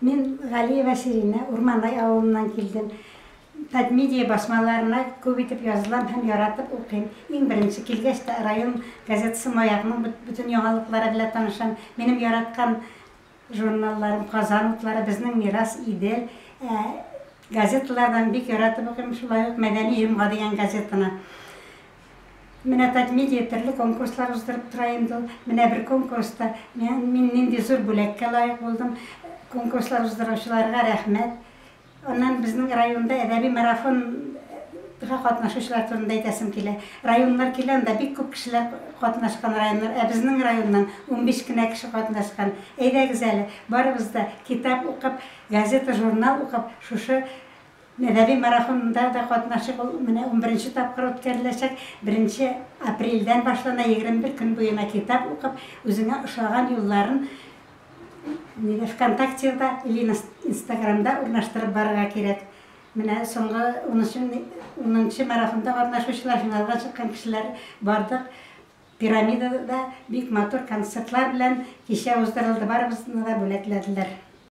Мин Галиева Сиринә, Урманай авылыннан килдем. Татмедиа басмаларына күп итеп язылам һәм яратып укыйм. Иң беренче килгәч тә район газетасы Маякның бөтен яңалыклары белән танышам. Минем яраткан журналларым Казан утлары, Безнең мирас, Идел. Ә газеталардан бик яратып укыйм, шулай ук Мәдәни җомга дигән газетаны. Менә Татмедиа төрле конкурслар уздырып тора инде ул. Менә бер конкурста мин нинди зур бүләккә лаек булдым. Конкурслар уздыручыларга рәхмәт. Аннан безнең районда әдәби марафон га катнашучылар турында әйтәсем килә. Районнар килә, анда бик күп кешеләр катнашкан районнар, ә безнең районнан унбиш кенә кеше катнашкан. Әйдәгез әле, барыбыз да китап укып, газета-журнал укып, шушы Мәдәни марафонда да катнашыйк, ул менә унберенче тапкыр үткәреләчәк. Беренче апрельдән башлана, егерме бер көн буена китап укып, үзеңә ошаган юлларын нидә, ВКонтактеда или Инстаграмда урнаштырып барырга кирәк. Менә соңгы унынчы марафонда катнашучылар, финалга чыккан кешеләр бардык. Пирамидада бик матур концертлар белән кичә уздырылды, барыбызны да бүләкләделәр.